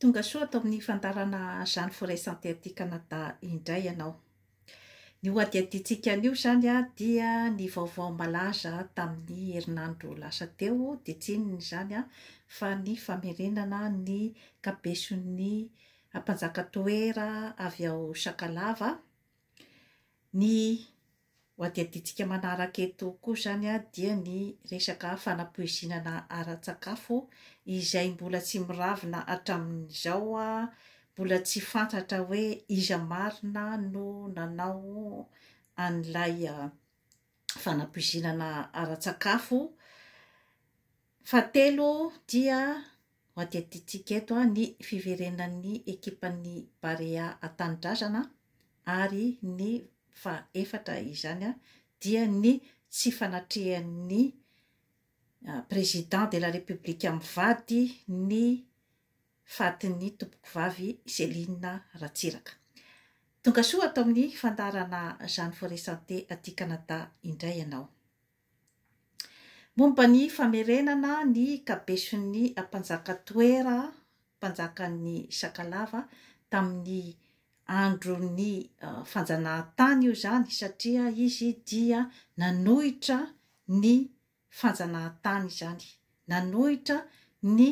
Tonga soa ato amin'ny fandaharana Jeanne Forêt Santé aty Canada indray ianao. Ny ho hadihadiantsika anio izany dia ny vaovao malaza tamin'ny herinandro lasa teo dia tsy inona izany fa ny famerenana ny kabeson'ny mpanjaka toera avy ao Sakalava ny Ho adihadintsika manaraka eto koa izany dia ny resaka fanapoizinana ara-tsakafo izay mbola tsy miravina hatramin'izao, mbola tsy fantatra hoe iza marina no nanao an'ilay fanapoizinana ara-tsakafo. Fahatelo dia ho adidintsika eto ny fiverenan'ny ekipan'ny Barea an-tanindrazana ary ny fahefatra izany dia ny tsy fanatrehan'ny Président de la République mivady ny fatin'ny Tompokovavy Céline Ratsiraka. Tongasoa ato amin'ny fandaharana Jeanne Forêt Santé aty Canada indray ianao. Momba ny famerenana ny kabeson'ny mpanjaka Toera, mpanjakan'ny Sakalava, tamin'ny andron'ny fanjanahantany io izany satria izy dia nanohitra ny fanjanahantany izany, nanohitra ny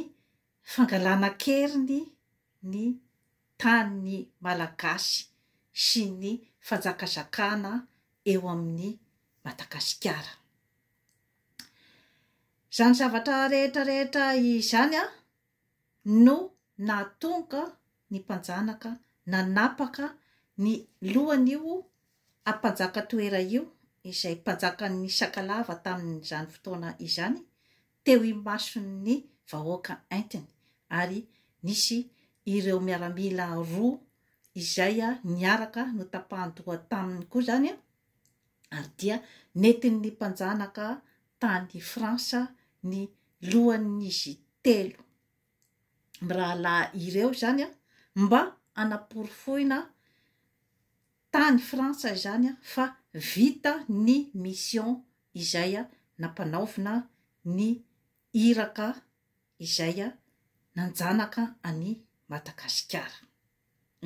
fangalana an-keriny ny tanin'ny Malagasy sy ny fanjakazakana eo amin'ny Madagasikara. Izany zavatra rehetra rehetra izany no nahatonga ny mpanjanaka nanapaka ny lohan'io ampanjaka toera io izay mpanjakan'ny Sakalava tamin'izany fotoana izany teo imason'ny vahoaka entiny ary nisy ireo miaramila roa izay niaraka notapahan-doha taminy koa izany ary dia nentin'ny mpanjanaka tany Frantsa ny lohan'izy telo mirahalahy ireo izany mba hanaporofoina tany Frantsa izany fa vita ny mission izay nampanaovina ny iraka izay nanjanaka an'i Madagasikara.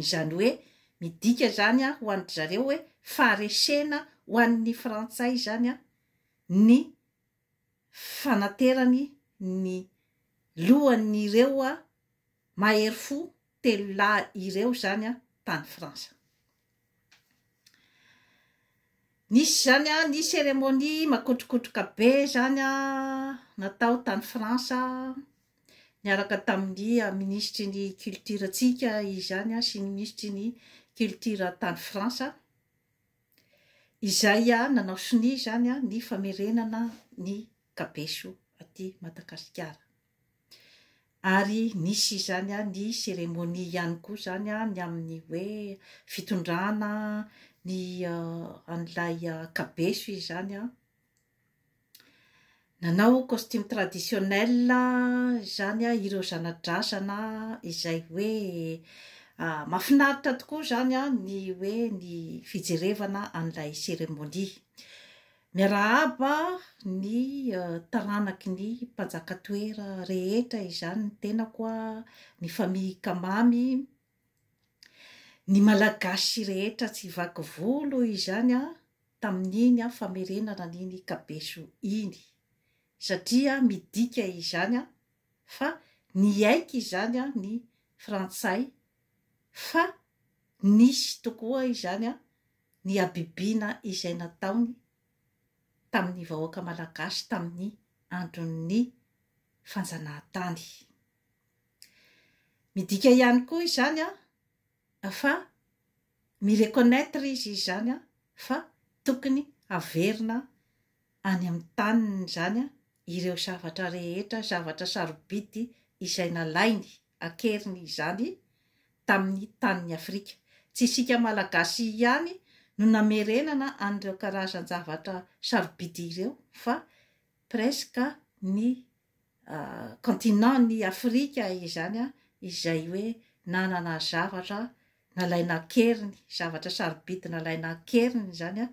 Izany hoe midika izany ho an-dry zareo hoe faharesena ho an'ny Frantsay izany ny fanaterany ny lohan'ireo mahery fo telo lahy ireo izany tany Frantsa. Nisy izany an, nisy cérémonie makotrokotroka be izany an, natao tany France niaraka tamin'ny minisitry ny culture antsika izany an sy ny minisitry ny culture tany France, izay nanao sonia izany an ny famerenana ny Kabeso aty Madagasikara. Ary nisy izany ny cérémonie ihany koa izany ny amin'ny hoe fitondrana ny an'ilay Kabeso izany nanao costume traditionnel izany ireo zana-drazana izay hoe mahafinaritra tokoa izany ny hoe ny fijerevana an'ilay cérémonie. Miarahaba ny taranaky ny mpanjaka toera rehetra izany ny tenako a, ny famille Kamamy, ny malagasy rehetra tsy vaky volo izany a, tamin'iny famerenana an'iny kabeso iny, satria midika izany a, fa niaiky izany a ny frantsay fa nisy tokoa izany a, ny habibiana izay nataony tamin'ny vahoaka malagasy tamin'ny andron'ny fanjanahantany. Midika ihany koa izany a, fa mi-reconnaitre izy izany a, fa tokony haverina any amin'ny taniny izany a, ireo zavatra rehetra, zavatra sarobidy izay nalainy ankeriny izany tamin'ny tanin'i Afrika. Tsy isika Malagasy ihany no namerenana an'ireo karazan-javatra sarobidy ireo fa presque ny continent n'i Afrika izany izay hoe nanana zavatra nalaina ankeriny, zavatra sarobidy nalaina ankeriny izany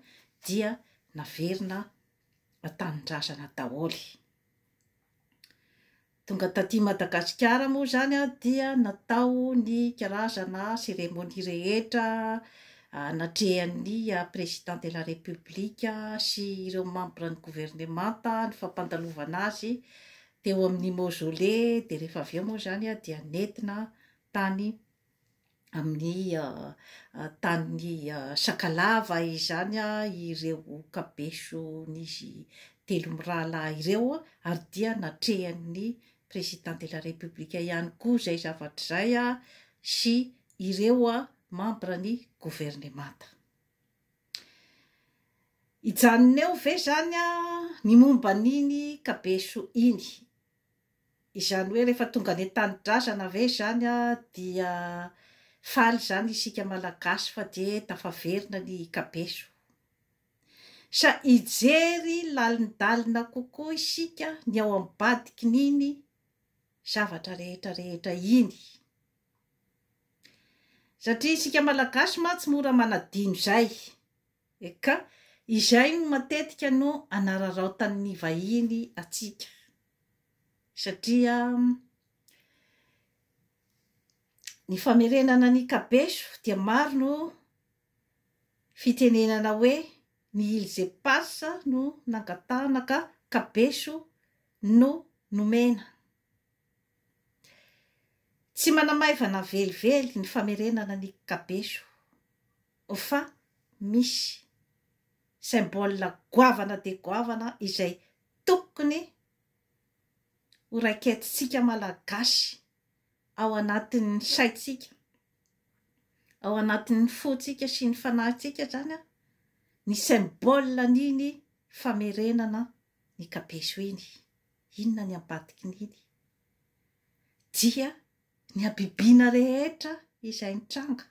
dia naverina Mba tanindrazana daholo. Tonga taty Madagasikara moa izany dia natao ny karazana cérémonie rehetra anatrehan'ny président de la république sy ireo membres ny gouvernemanta ny fampandalovana azy teo amin'ny mausolée dia rehefa avy eo moa izany dia nentina tany amin'ny tanin'i Sakalava izany ireo kabeson'izy telo mirahalahy ireo ary dia natrehan'ny Président de la République ihany koa izay zavatra izay sy ireo membres ny governemanta. Hijanona eo ve izany ny momba an'iny kabeso iny? Izany hoe rehefa tonga any an-tanindrazana ve izany dia faly izany isika Malagasy fa dia tafaverina ny kabeso? Sa hijery lalindalina kokoa isika ny ao ambadikin'iny zavatra rehetra rehetra iny? Satria isika Malagasy mantsy mora manadino izay. Eka, izay no matetika no anararaotan'ny vahiny antsika, satria ny famerenana ny kabeso dia maro no fitenenana hoe ny îles éparses no nangatahana ka kabeso no nomena. Tsy manamaivana velively ny famerenana ny kabeso. fa misy symbole goavana dia goavana izay tokony ho raiketintsika Malagasy ao anatin'ny saintsika, ao anatin'ny fontsika sy ny fanahintsika izany ny symbole an'iny famerenana ny kabezo iny. Inona ny ambadikin'iny? Dia ny habibiana rehetra izay nitranga.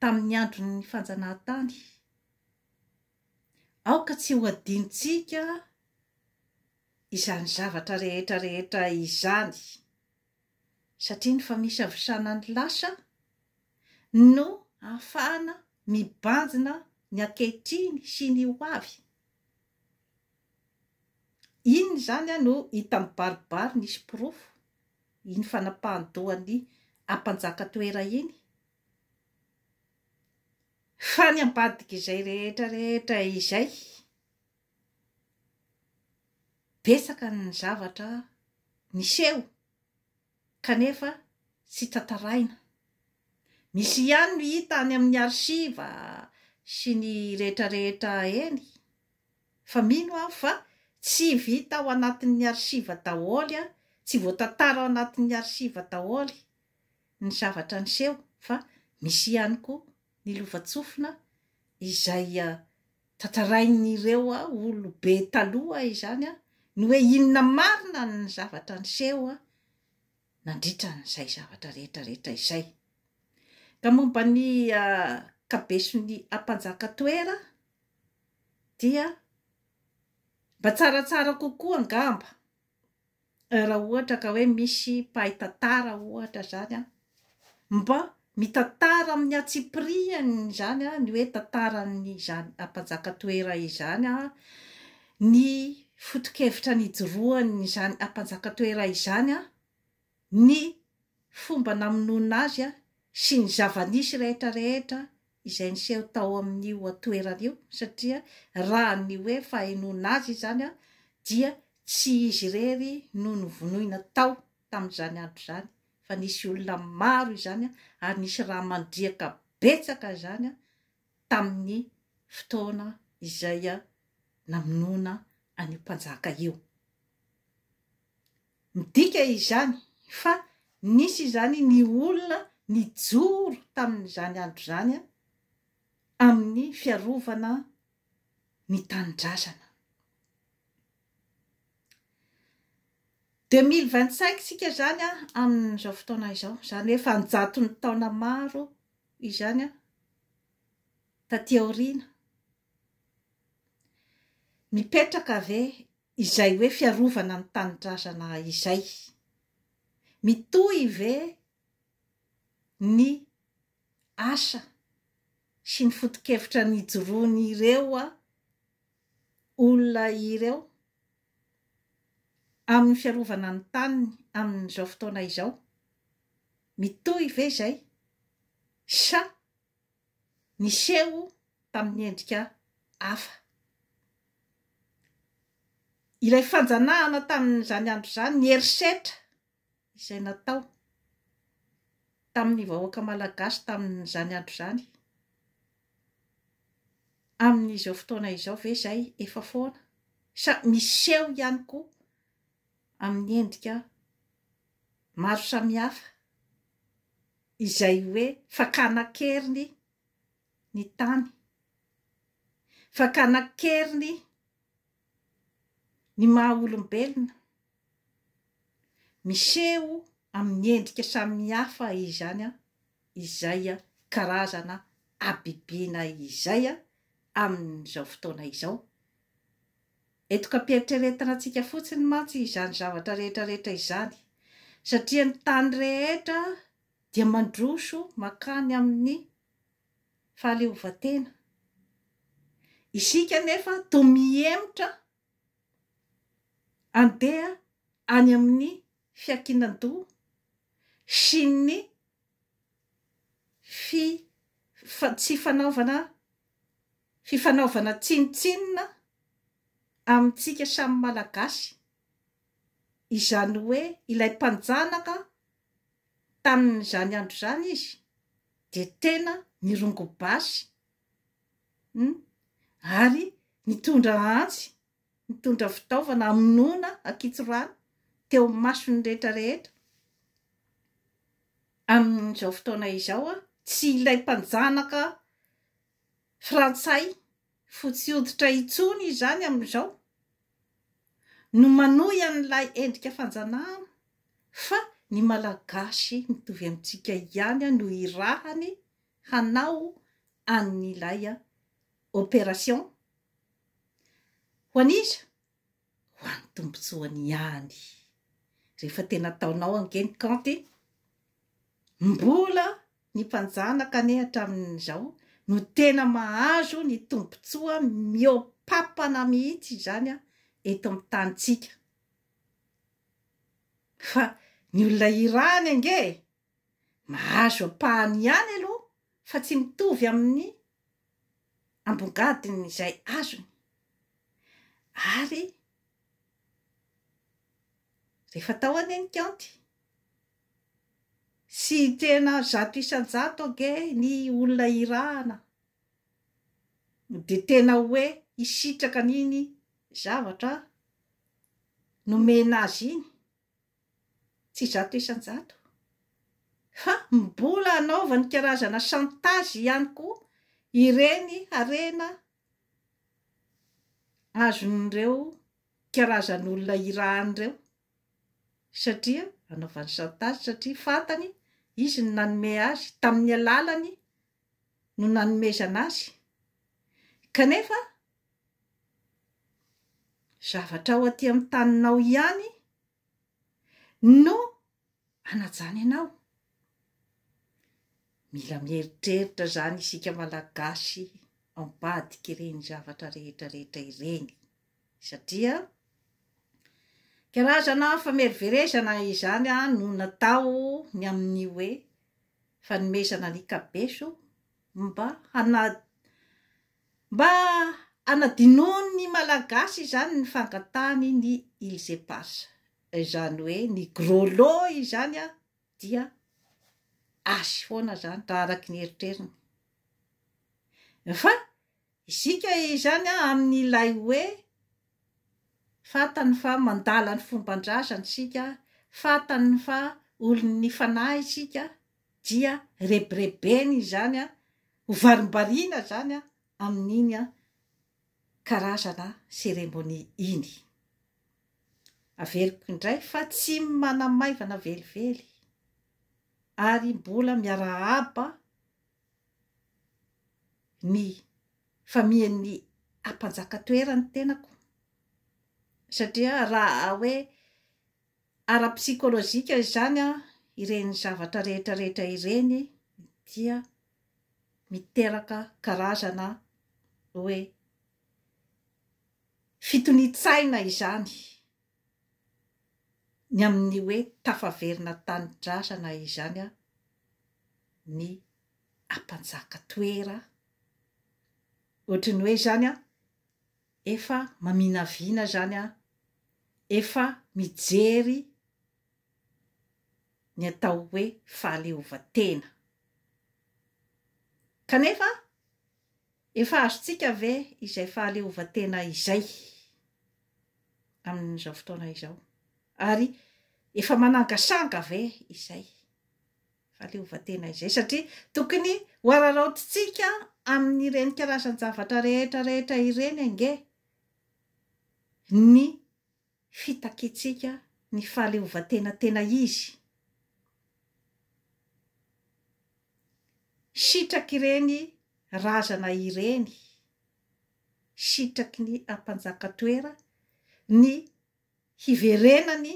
tamin'ny andron'ny fanjanahantany. Aoka tsy ho adinontsika izany zavatra rehetra rehetra izany, satria ny famisavosana ny lasa no ahafahana mibanjina ny ankehitriny sy ny ho avy. Inona izany no hita mibaribary nisy porofo? iny fanapahan-dohan'ny ampanjaka toera iny, fa ny ambadik'izay rehetra rehetra izay, betsaka ny zavatra niseho kanefa tsy tantaraina, misy ihany no hita any amin'ny archives sy ny rehetra rehetra eny, Fa mino aho fa tsy vita ao anatin'ny archive daholo, tsy voatantara ao anatin'ny archive daholo ny zavatra niseho fa misy ihany koa ny lovantsofina izay tantarain'ireo olobe taloha izany ny hoe inona marina ny zavatra niseho nandritra an'izay zavatra rehetra rehetra izay. Ka momba ny kabeson'i Ampanjaka Toera dia mba tsaratsara kokoa angamba raha ohatra ka hoe misy mpahay tantara ohatra zany an, mba mitantara amin'ny antsipiriany izany an, ny hoe tantaran'izany mpanjaka toera izany an, ny fotokevitra nijoroan'izany mpanjaka toera izany an, ny fomba namonoana azy sy ny zava-nisy rehetra rehetra izay niseho tao amin'io toerana io satria raha ny hoe fahenoana azy izany dia tsy izy irery no novonoina tao tamin'izany andro izany fa nisy olona maro izany ary nisy raha mandriaka betsaka izany tamin'ny fotoana izay namonoana an'io mpanjaka io. Midika izany fa nisy izany ny olona nijoro tamin'izany andro izany amin'ny fiarovana ny tanindrazana. Deux mille vingt cinq isika izany amin'izao fotoana izao, izany hoe efa an-jatony taona maro izany taty aoriana. Mipetraka ve Izay hoe fiarovana ny tanindrazana izay, mitohy ve ny asa sy ny foto-kevitra nijoroan'ireo olona ireo amin'ny fiarovana ny taniny amin'izao fotoana izao? Mitohy ve izay sa niseho tamin'ny endrika hafa. Ilay fanjanahana tamin'izany andro izany, ny herisetra izay natao tamin'ny vahoaka malagasy tamin'izany andro izany, amin'izao fotoana izao ve izay efa foana sa miseho ihany koa amin'ny endrika maro samihafa? Izay hoe fakana an-keriny ny tany, fakana an-keriny ny maha olombelona, miseho amin'ny endrika samihafa izany izay karazana habibiana izay amin'izao fotoana izao Etoka am-pieritreretana antsika fotsiny mantsy izany zavatra rehetra rehetra izany, satria ny tany rehetra dia mandroso mankany amin'ny fahaleovantena. Isika anefa toa mihemotra handeha any amin'ny fiankinan-doha sy ny fi, tsy fanaovana. Fifanaovana tsinontsinona amintsika samy Malagasy, izany hoe ilay mpanjanaka tamin'izany andro izany izy dia tena nirongo basy hum ary nitondra antsy, nitondra fitaovana hamonoana ankitsorano teo amin'ny mason'ny rehetra rehetra, amin'izao fotoana izao tsy ilay mpanjanaka frantsay fotsy hoditra intsony izany amin'izao no manohy an'ilay endrika fanjanahana fa ny malagasy mitovy amintsika ihany no irahany hanao an'ilay opération? Ho an'iza? ho an'ny tombontsoany ihany. Rehefa tena ataonao ange ny kaonty, mbola ny mpanjanaka anie hatramin'izao no tena mahazo ny tombontsoa mihoa-papana mihitsy izany eto amin'ny tanintsika. Fa ny olona iray any ange e! Mahazo ampahany ihany aloha fa tsy mitovy amin'ny ambongadiny izay azony ary rehefa tao anie ny kaonty sy tena zato isan-jato ange ny olona irahana dia tena hoe hisitraka an'iny zavatra nomena azy iny. Tsy zato isan-jato. Fa mbola hanaovany karazana chantage ihany koa ireny harena azon'ireo karazan'olona hirahany ireo satria anaovany chantage satria fantany izy no nanome azy, tamin'ny alalany no nanomezana azy kanefa Zavatra ao aty amin'ny taninao ihany no hanajany anao. Mila mieritreritra izany isika Malagasy ambadika ireny zavatra rehetra rehetra ireny satria karazana famerimberezana izany no natao ny amin'ny hoe fanomezana ny kabeso mba hana- Mba hanadinoan' ny Malagasy izany ny fangatahany ny Îles Éparses, izany hoe ny Gros Lot izany dia azy foana izany raha araka ny eritreriny. Fa isika izany amin' ilay hoe fantany fa mandala ny fomban-drazany isika, fantany fa olon' ny fanahy isika, dia rebirebeny izany ho varimbariana izany amin'iny karazana cérémonie iny. Averiko indray fa tsy manamaivana velively ary mbola miarahaba ny famian'ny ampanjaka toerany tenako satria raha hoe ara-psikolojika izany an, ireny zavatra rehetra rehetra ireny dia miteraka karazana hoe fitonian-tsaina izany ny amin'ny hoe tafaverina tanindrazana izany an ny ampanjaka toera ohatry ny hoe izany an Efa maminavina izany an! Efa mijery ny atao hoe fahaleovantena. Kanefa efa azontsika ve izay fahaleovantena izay amin'izao fotoana izao? Ary efa manangasanga ve izay? fahaleovantena izay satria tokony hoararaotintsika amin'ireny karazan-javatra rehetra rehetra ireny ange ny fitakiantsika ny fahaleovantena tena izy. Sitrak'ireny razana ireny, sitraky ny ampanjaka toera ny hiverenany,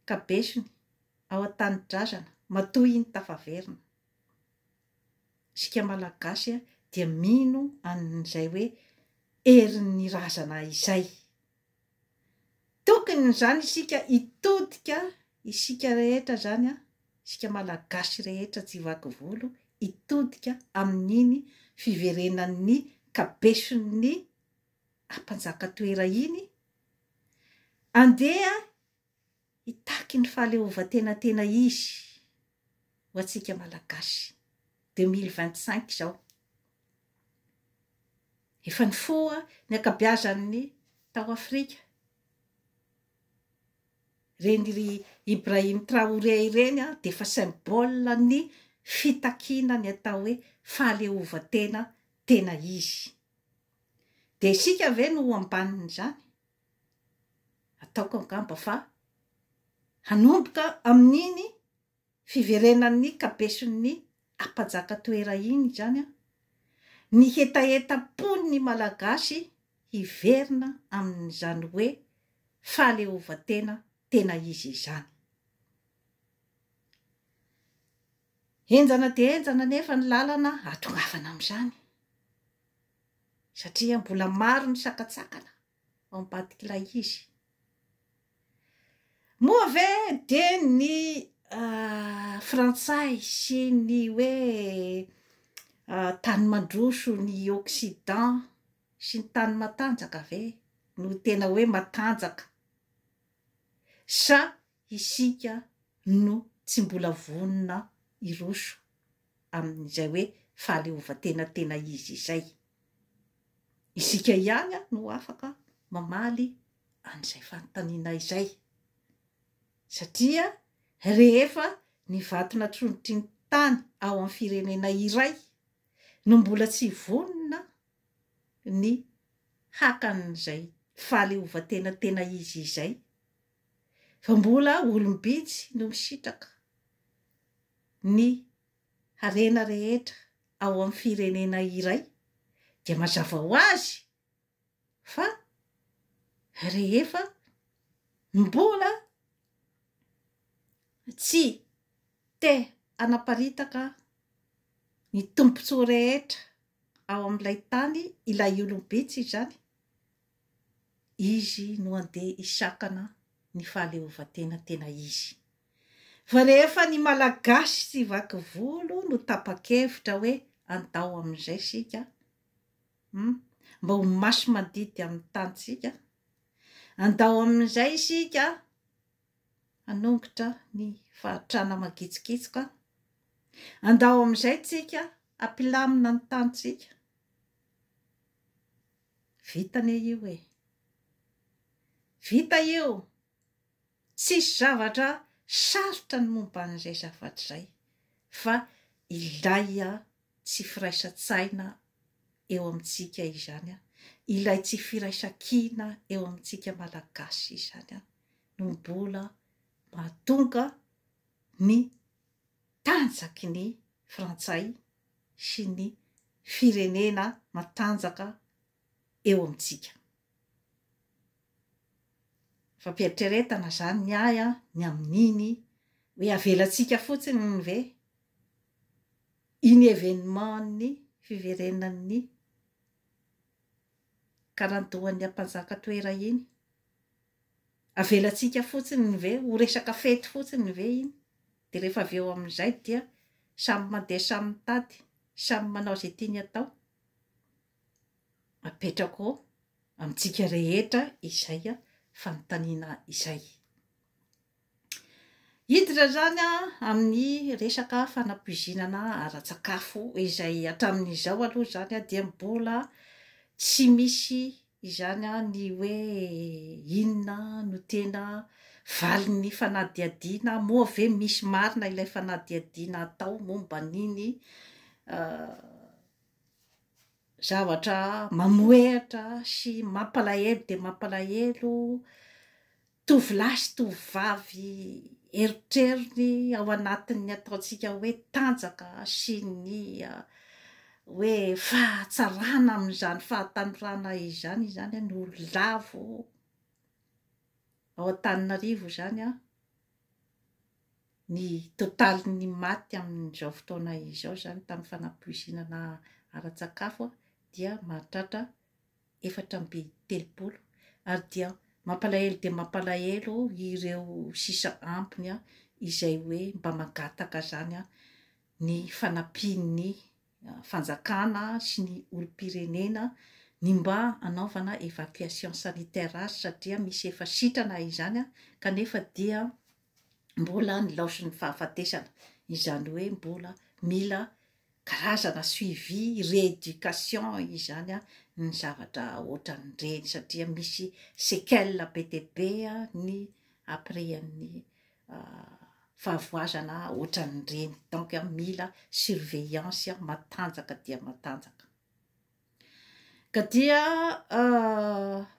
ka besony ao an-tanindrazana matoa iny tafaverina. Isika Malagasy dia mino an'izay hoe herin'ny razana izay. Tokony izany isika hitodika, isika rehetra izany, isika Malagasy rehetra tsy vaky volo hitodika amin'iny fiverenan'ny kabeson'ny a mpanjaka toera iny andeha hitaky ny fahaleovantena tena izy ho antsika malagasy 2025 izao efa nifoha ny akabiazan'ny tao afrika reny ry ibrahim traoré ireny a dia efa symbole ny fitakiana ny atao hoe fahaleovantena tena izy Dia isika ve no ho ambanin'izany? Ataoko angamba fa hanomboka amin'iny fiverenan'ny kabeson'ny Apajaka Toera iny izany ny hetahetam-pon'ny Malagasy hiverina amin'izany hoe fahaleovantena tena izy izany. Henjana dia henjana anefa ny lalana hahatongavana amin'izany, satria mbola maro ny sakantsakana ao ambadik'ilay izy. Moa ve dia ny Frantsay sy ny hoe tany mandroso, ny Occident sy ny tany matanjaka ve no tena hoe matanjaka, sa Isika no tsy mbola vonona hiroso amin'izay hoe fahaleovantena tena izy izay. Isika ihany no afaka mamaly an'izay fanontaniana izay. Satria rehefa ny vatona trondrotry ny tany ao amin'ny firenena iray no mbola tsy vonona ny haka an'izay fahaleovantena tena izy izay, fa mbola olom-bitsy no misitraka ny harena rehetra ao amin'ny firenena iray dia mazava ho azy fa rehefa mbola tsy te hanaparitaka ny tombontsoa rehetra ao amin'ilay tany ilay olom-bitsy izany, Izy no handeha hisakana ny fahaleovantena tena izy. Fa rehefa ny Malagasy tsy vaky volo no tapa-kevitra hoe andao amin'izay isika hum, mba ho maso mandidy amin'ny tanintsika, andao amin'izay isika hanongotra ny fahatrana magitsikitsoka, andao amin'izay tsika hampilamina ny tanintsika. Vita anie io e! Vita io! Tsisy zavatra sarotra ny momba an'izay zavatra izay fa ilay tsy firaisan-tsaina eo amintsika izany, ilay tsy firaisan-kina eo amintsika Malagasy izany no mbola mahatonga ny tanjaky ny Frantsay sy ny firenena matanjaka eo amintsika. Fampieritreretana izany ny ahy an, ny amin'iny hoe avelantsika fotsiny ve iny événement-n'ny fiverenan'ny karandohan'ny ampanjaka toera iny Avelantsika fotsiny ve ho resaka fety fotsiny ve iny dia rehefa avy eo amin'izay dia samy mandeha samy mitady, samy manao izay tiany atao? Apetrako amintsika rehetra izay fanontaniana izay. Hiditra izany amin'ny resaka fanapoizinana ara-tsakafo izay hatramin'izao aloha izany dia mbola tsy misy izany ny hoe inona no tena valin'ny fanadihadiana, moa ve misy marina ilay fanadihadiana atao momba an'iny zavatra mamohehatra sy mampalahelo dia mampalahelo. Tovolahy sy tovovavy erotrerony ao anatin'ny ataontsika hoe tanjaka sy ny hoe fahatsarana amin'izany fahatanorana izany izany no lavo ao Antananarivo izany ny totalin'ny maty amin'izao fotoana izao izany tamin'ny fanapoizinana ara-tsakafo dia mahatratra efatra amby telopolo ary dia mampalahelo dia mampalahelo ireo sisa ambiny izay hoe mba mangataka zany ny fanampian'ny fanjakana sy ny olom-pirenena ny mba anaovana evacuation sanitaire azy satria misy efa sitrana izany kanefa dia mbola nilaozon'ny fahafatesana izany hoe mbola mila karazana suivi, rééducation izany an, ny zavatra ohatran'ireny satria misy séquelles be dia be ny après ny fahavoazana ohatran'ireny, donc mila surveillance matanjaka dia matanjaka. Ka dia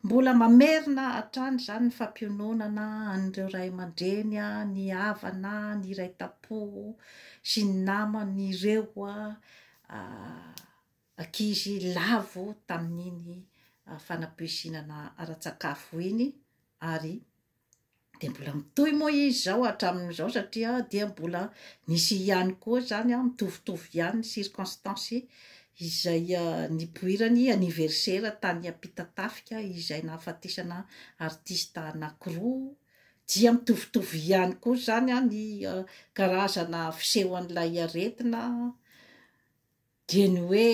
mbola mamerina hatrany izany ny fampiononana an'ireo ray aman-dreny, ny havana, ny iray tampo sy ny naman'ireo ankizy lavo tamin'iny fanapoizinana ara-tsakafo iny ary. Dia mbola mitohy moa izy izao hatramin'izao satria dia mbola misy ihany koa izany an, mitovitovy ihany ny circonstances izay nipoiran'ny anniversaire tany Ampitatafika izay nahafatesana artiste anankiroa, dia mitovitovy ihany koa izany an ny karazana fisehoan'ilay aretina, Dia ny hoe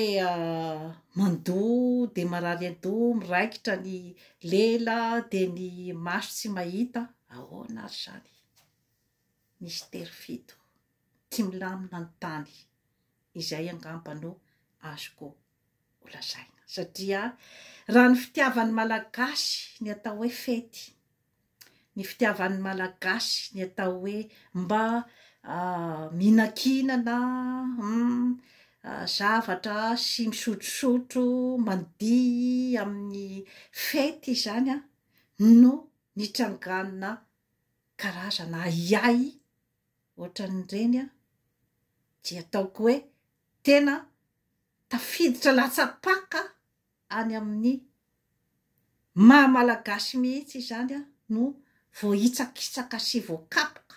mandoa dia marary an-doha, miraikitra ny lela, dia ny maso tsy mahita, ahoana ary izany? Misy tery fito, tsy milamina ny tany, izay angamba no azoko holazaina. Satria raha ny fitiavan'ny Malagasy ny atao hoe fety, ny fitiavan'ny Malagasy ny atao hoe mba mihinankinana, zavatra sy misotrosotro mandihy amin'ny fety izany no nitrangana karazana ahiahy ohatran'ireny dia ataoko hoe tena tafiditra latsa-paka any amin'ny maha Malagasy mihitsy izany no voahitsakitsaka sy voakapoka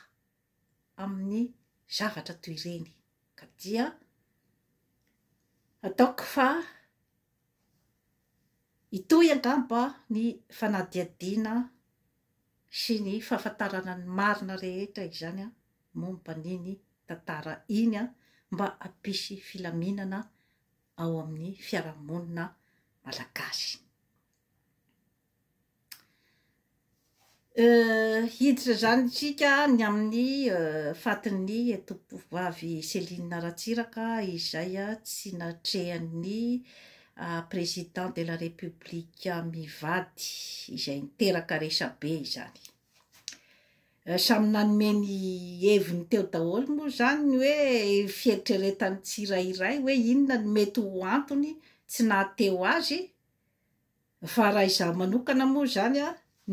amin'ny zavatra toy ireny ka dia ataoko fa hitohy angamba ny fanadihadiana sy ny fahafantarana ny marina rehetra izany momba an'iny tantara iny mba hampisy filaminana ao amin'ny fiarahamonina malagasy. Hiditra izany isika ny amin'ny fatin'ny Tompovavy Céline Ratsiraka izay tsy natrehan'ny Président de la République mivady izay niteraka resabe izany. Samy nanome ny heviny teo daholo moa izany ny hoe fieritreretan'ny tsirairay hoe inona no mety ho antony tsy nahateo azy fa raha izaho manokana moa izany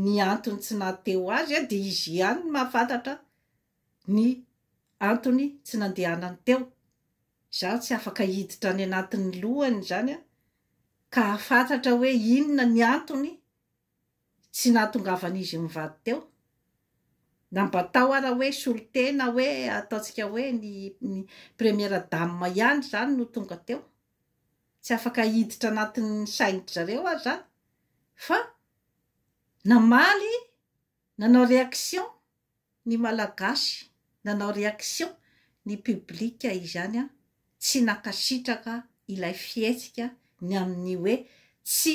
ny antony tsy nahateo azy dia izy ihany no mahafantatra ny antony tsy nandehanany teo. Izaho tsy afaka hiditra any anatin'ny lohany izany ka hahafantatra hoe inona ny antony Tsy nahatongavan'izy mivady teo. Na mba tao ara hoe solontena hoe ataontsika hoe ny première dame ihany izany no tonga teo. Tsy afaka hiditra anatin'ny sain-dry zareo aho izany fa namaly Nanao réaction ny malagasy nanao réaction ny public izany an, tsy nankasitraka ilay fihetsika ny amin'ny hoe tsy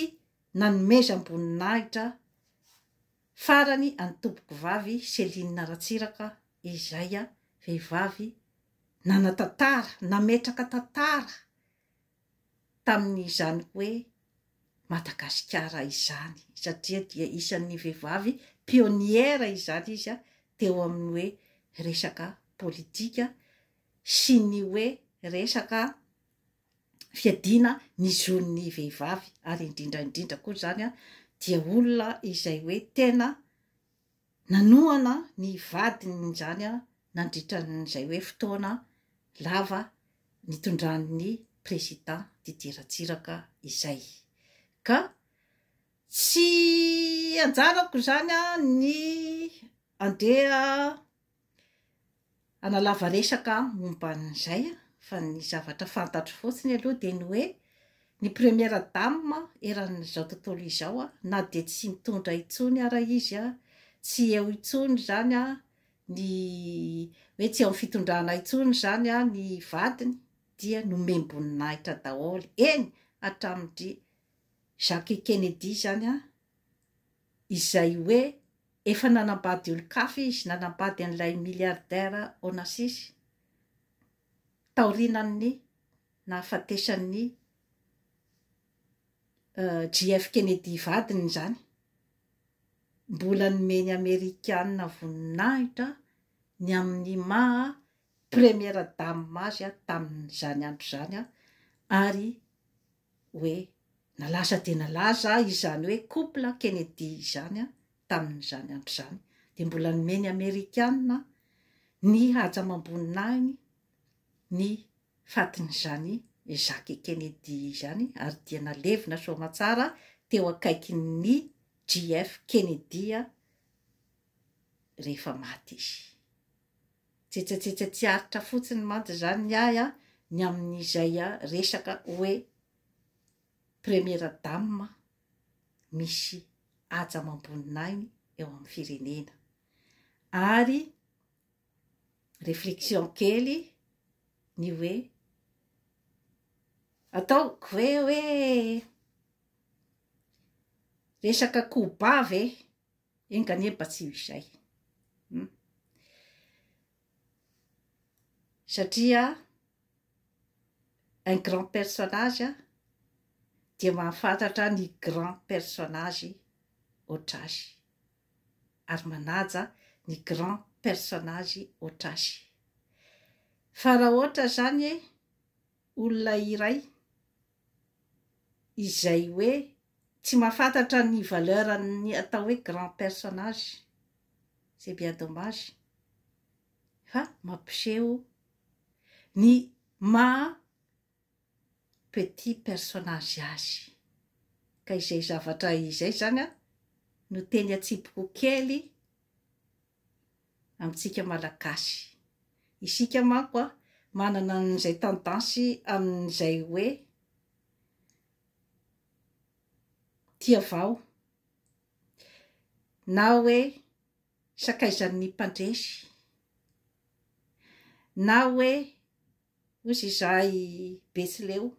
nanomezam-boninahitra farany an'i Tompokovavy Céline Ratsiraka izay vehivavy nanatantara, nametraka tantara tamin'izany hoe Madagasikara izany satria dia isan'ny vehivavy pionnière izany izy teo amin'ny hoe resaka politika sy ny hoe resaka fiadiana ny zon'ny vehivavy ary indrindra indrindra koa izany dia olona izay hoe tena Nanohana ny vadiny izany nandritra izay hoe fotoana lava nitondran'ny prezida Didier Ratsiraka izay. Ka tsy anjarako izany ny andeha Hanalava resaka aho momba an'izay fa ny zavatra fantatro fotsiny aloha dia ny hoe ny première dame eran'izao tontolo izao na dia tsy mitondra intsony ara izy, tsy eo intsony izany ny hoe tsy eo amin'ny fitondrana intsony izany ny vadiny dia nomem-boninahitra daholo, eny hatramin'dry Jacques Kennedy izany izay hoe efa nanambady olon-kafa izy, nanambady an'ilay milliardaire Onassis taorianan'ny nahafatesan'i JF Kennedy vadiny izany. Mbola nomeny Amerikana voninahitra ny amin'ny maha Première Dame azy tamin'izany andro izany ary hoe nalaza dia nalaza izany hoe couple Kennedy izany tamin'izany andro izany, dia mbola nomeny ny Amerikana ny haja amam-boninahiny ny fatin'izany Jacques Kennedy izany ary dia nalevina soamatsara teo akaikin'ny JF Kennedy rehefa maty izy. Tsetsatsetsa tsy aritra fotsiny mantsy izany ny ahy an, ny amin'izay resaka hoe première dame misy haja amam-boninahiny eo amin'ny firenena. Ary réflexion kely ny hoe ataoko ve hoe resaka koba ve Enga anie mba tsy ho izay. Hum. Satria un grand personnage dia mahafantatra ny grand personnage hoatra azy ary manaja ny grand personnage hoatra azy. Fa raha hoatra zany olona iray izay hoe tsy mahafantatra ny valeur an'ny atao hoe grand personnage, c'est bien dommage fa mampiseho ny maha petit personnage azy, ka izay zavatra izay zany an no teny an-tsipiko kely amintsika Malagasy. Isika manko a, manana an'izay tendance amin'izay hoe tia vao, na hoe sakaizan'ny mpandresy, na hoe Hozy izahay i Betsileo.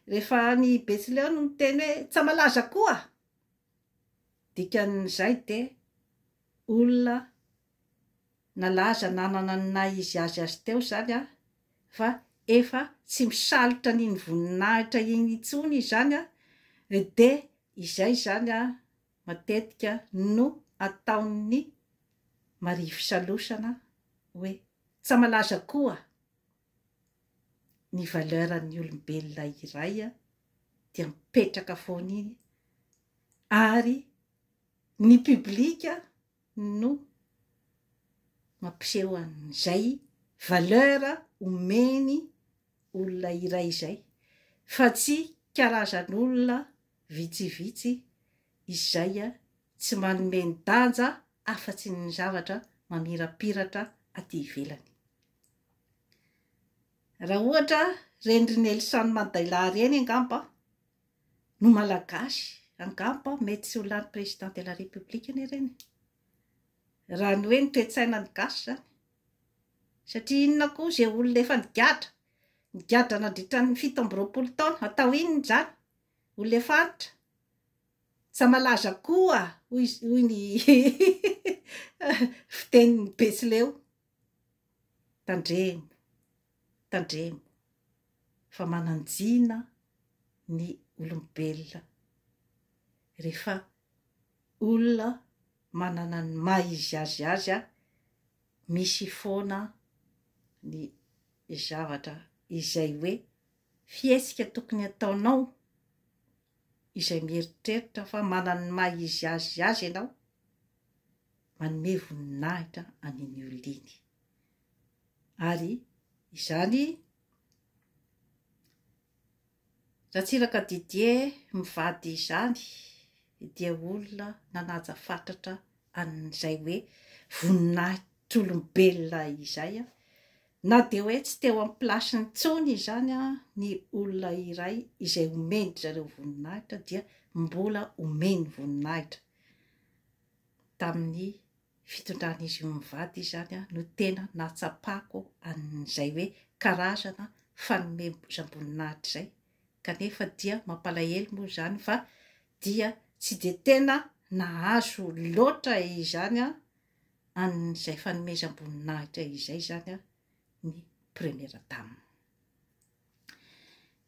Rehefa any Betsileo no miteny hoe Tsamalaza koa! Dikan'izay dia olona nalaza nanana ny naha izy azy azy teo izany fa efa tsy misalotra an'iny voninahitra iny intsony izany dia izay izany matetika no ataon'ny marifisalosana hoe tsa malaza koa ny valeur ny olombelona iray dia mipetraka foana iny ary ny public no mampiseho an'izay valeur omeny olona iray izay fa tsy karazan'olona vitsivitsy izay tsy manome ny danja afa-tsy ny zavatra mamirapiratra aty ivelany. Raha ohatra ireny ry Nelson Mandela ireny angamba no Malagasy angamba mety tsy ho lany Président de la République anie ireny e! Raha ny hoe ny toe-tsainan'ny gasy izany. Satria inona koa izay olona efa nigadra, nigadra nandritra ny fito amby roapolo taona, atao inona izany? olona faritra, tsa malaza koa hoy ny fitenin'i Betsileo. Tandremo, tandremo fa mananjina ny olombelona rehefa olona manana ny maha izy azy azy a, misy foana ny zavatra izay hoe Fihetsika tokony ataonao izay mieritreritra fa manana ny maha izy azy azy ianao, manome voninahitra an'iny olona iny. Ary izany Ratsiraka Didier mivady izany dia olona nanaja fatratra an'izay hoe voninahitolombelona izay aho. Na dia hoe tsy teo amin'ny plasiny intsony izany ny olona iray izay omen-dry zareo voninahitra dia mbola omeny voninahitra. Tamin'ny fitondran'izy io mivady izany no tena nahatsapako an'izay hoe karazana fanomezam-boninahitra izay. kanefa dia mampalahelo moa izany fa dia tsy dia tena nahazo loatra izany an'izay fanomezam-boninahitra izay izany ny Première Dame.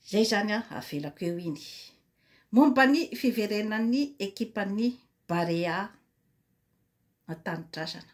Izay izany avelako eo iny. Momba ny fiverenan'ny ekipan'ny Barea an-tanindrazana.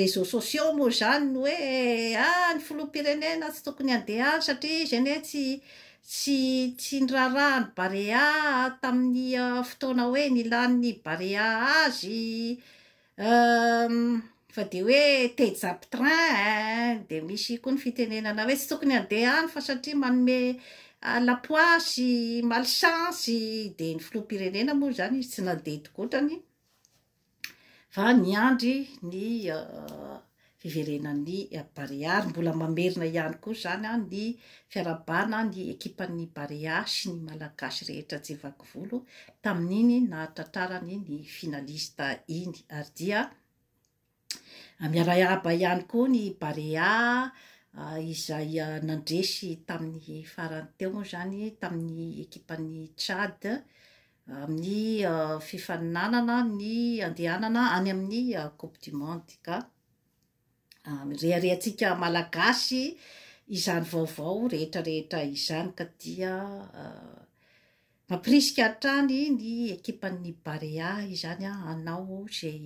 réseaux sociaux moa izany ny hoe ah ny filoham-pirenena tsy tokony handeha any satria izy anie tsy tsy tsy niraharaha ny Barea tamin'ny fotoana hoe nilan'ny Barea azy fa dia hoe te hijapy train eh, dia misy koa ny fitenenana hoe tsy tokony handeha any fa satria manome lapoasy, malchance, dia ny filoham-pirenena moa izany izy tsy nandeha tokotrany, va niandry ny fiverenan'ny Barea ary mbola mamerina ihany koa izany ny fiarahabana ny ekipan'ny Barea sy ny Malagasy rehetra tsy vaky volo tamin'iny nahatratrarany ny finaliste iny ary dia miarahaba ihany koa ny Barea izay nandresy tamin'ny farany teo moa izany tamin'ny ekipan'ny Tchad amin'ny fifaninanana ny andehanana any amin'ny Coupe du Monde ka mireharehantsika Malagasy izany vaovao rehetra rehetra izany ka dia mampirisika hatrany ny ekipan'ny Barea izany hanao izay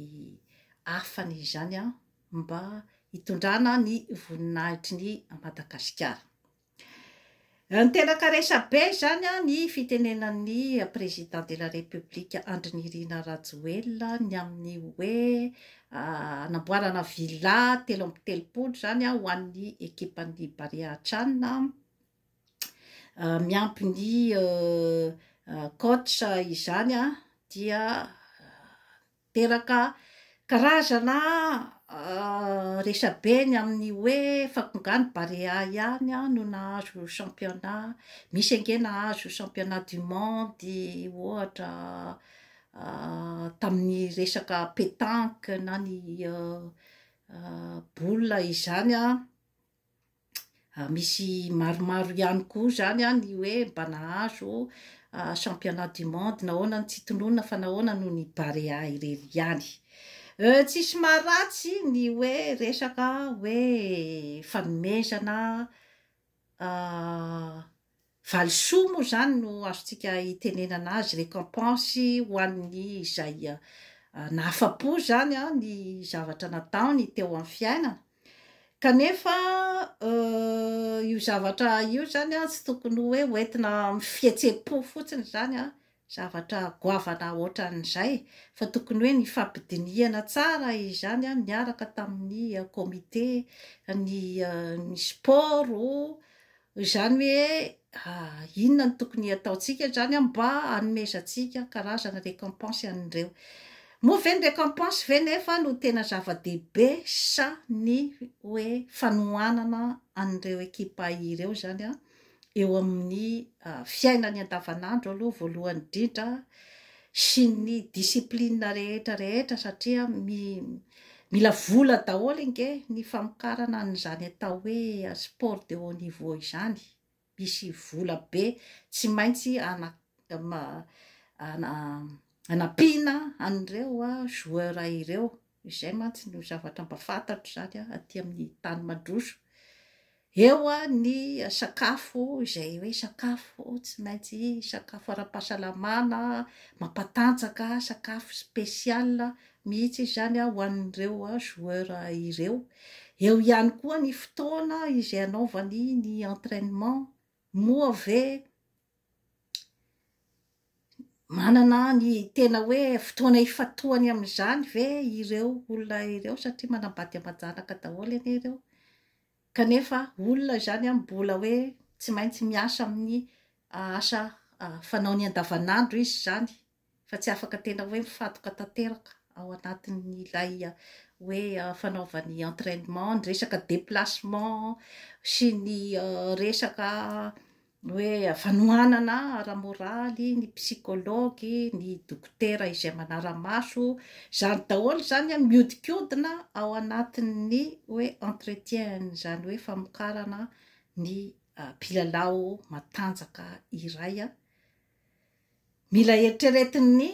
afany izany mba hitondrana ny voninahitry ny Madagasikara. Niteraka resabe izany ny fitenenan'ny Président de la République Andry Nirina Rajoelina ny amin'ny hoe hanamboarana villa telo amby telopolo izany ho an'ny ekipan'ny Barea Chan miampy ny coach izany dia Teraka karazana resabe ny amin'ny hoe fa nga ny Barea ihany no nahazo championnat, misy ange nahazo championnat du monde ohatra tamin'ny resaka petanque na ny boule izany. misy maromaro ihany koa izany an ny hoe mba nahazo championnat du monde nahoana no tsy tononina fa nahoana no ny Barea irery ihany tsisy maharatsy ny hoe resaka hoe fanomezana Valisoa moa izany no azontsika itenenana azy, récompense ho an'ny izay nahafa-po izany ny zavatra nataony teo amin'ny fiainana. Kanefa io zavatra io izany tsy tokony hoe hoentina amin'ny fihetsem-po fotsiny izany zavatra goavana ohatran'izay fa tokony hoe nifampidinihana tsara izany niaraka tamin'ny comité ny ny sport izany hoe inona no tokony hataontsika izany mba hanomezantsika karazana récompense an'ireo moa ve ny récompense ve nefa no tena zava-dehibe sa ny hoe fanohanana an'ireo ekipa ireo izany an? eo amin'ny fiainany andavanandro aloha voalohany indrindra sy ny discipline rehetra rehetra satria mila vola daholo ange ny famokarana an'izany atao hoe sport de haut niveau izany, misy vola be tsy maintsy hanampiana an'ireo joueurs ireo. Izay mantsy no zavatra mba fantatro izany an, aty amin'ny tany mandroso. Eo ny sakafo izay hoe sakafo tsy maintsy sakafo ara-pahasalamana, mampatanjaka, sakafo spécial mihitsy izy izany an, ho an'ireo joueur ireo. Eo ihany koa ny fotoana izay anaovany ny entrainement. Moa ve Manana ny tena hoe fotoana ifantohany amin'izany ve ireo olona ireo satria manambady aman-janaka daholo anie ireo kanefa olona izany mbola hoe tsy maintsy miasa amin'ny asa fanaony andavanandro izy izany fa tsy afaka tena hoe mifantoka tanteraka ao anatin'ilay hoe fanaovana ny entrainement, ny resaka deplacement sy ny resaka hoe fanohanana ara-moraly, ny psychologue, ny dokotera izay manara-maso, izany daholo izany an mihodinkodina ao anatin'ny hoe entretien izany hoe famokarana ny mpilalao matanjaka iray. Mila heritreretin'ny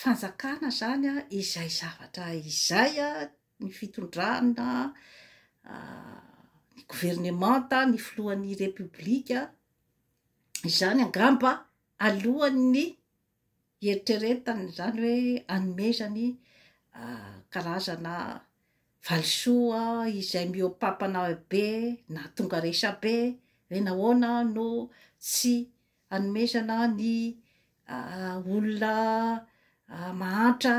fanjakana izany izay zavatra izay ny fitondrana, ny governemanta, ny filohan'ny repoblika, izany angamba alohan'ny hieritreretany izany hoe hanomezany karazana valisoa izay mihoa-pampana be na tonga resabe hoe nahoana no tsy hanomezana ny olona mahantra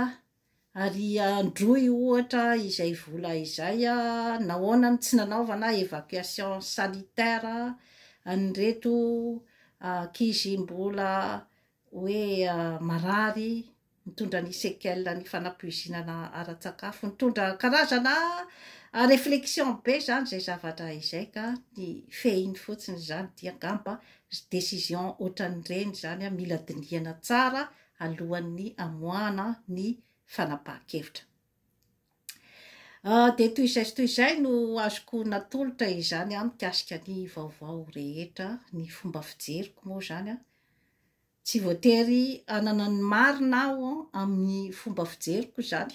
ary androy ohatra izay vola izay, nahoana no tsy nanaovana évacuation sanitaire an'ireto ankizy mbola hoe marary mitondra ny séquelles ny fanapoizinana ara-tsakafo, mitondra karazana réflexion be izany izay zavatra izay ka ny fehiny fotsiny izany dia angamba décision ohatran'ireny izany mila dinihana tsara alohan'ny hamoahana ny fanapahan-kevitra. Dia toy izay sy toy izay no azoko natolotra izany mikasika ny vaovao rehetra, ny fomba fijeriko moa izany, Tsy voatery hanana ny marina aho amin'ny fomba fijeriko izany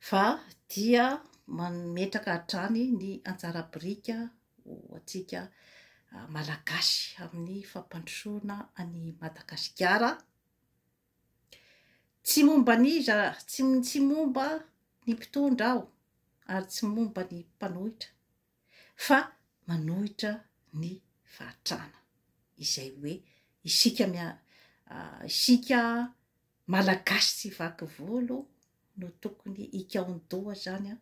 fa dia mametraka hatrany ny anjara biriky ho antsika Malagasy amin'ny fampandrosoana an'i Madagasikara. Tsy momba an'iza, tsy momba ny mpitondra aho ary tsy momba ny mpanohitra fa manohitra ny fahatrana izay hoe isika isika malagasy tsy vaky volo no tokony hikaon-doha zany a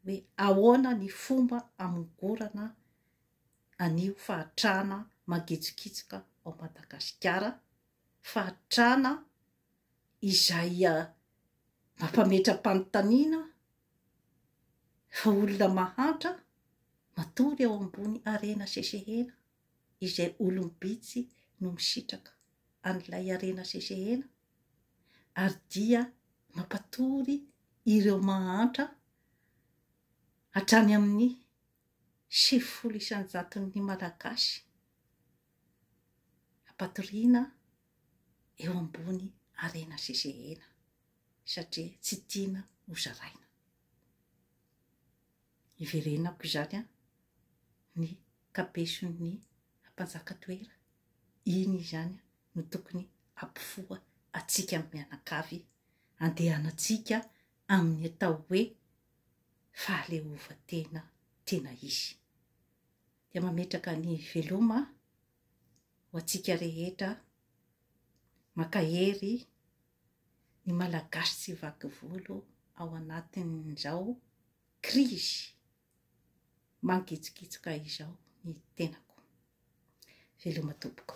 hoe ahoana ny fomba amongorana an'io fahatrana mangitsokitsoka ao Madagasikara fahatrana izay mampametra-panontaniana Fa olona mahantra matory eo ambony harena sesehena izay olom-bitsy no misitraka an'ilay harena sesehena ary dia mampatory ireo mahantra hatrany amin'ny sivifolo isan-jaton'ny Malagasy hampatoriana eo ambony harena sy zehena satria tsy tiana ho zaraina. Iverenako izany an, ny kabeson'ny mpanjaka toera, iny izany no tokony hampifoha antsika mianakavy handehanantsika amin'ny atao hoe fahaleovantena tena izy. Dia mametraka an'i Veloma ho antsika rehetra mankahery ny Malagasy tsy vaky volo ao anatin'izao krizy mangitsokitsoka izao ny tenako. Veloma tompoko.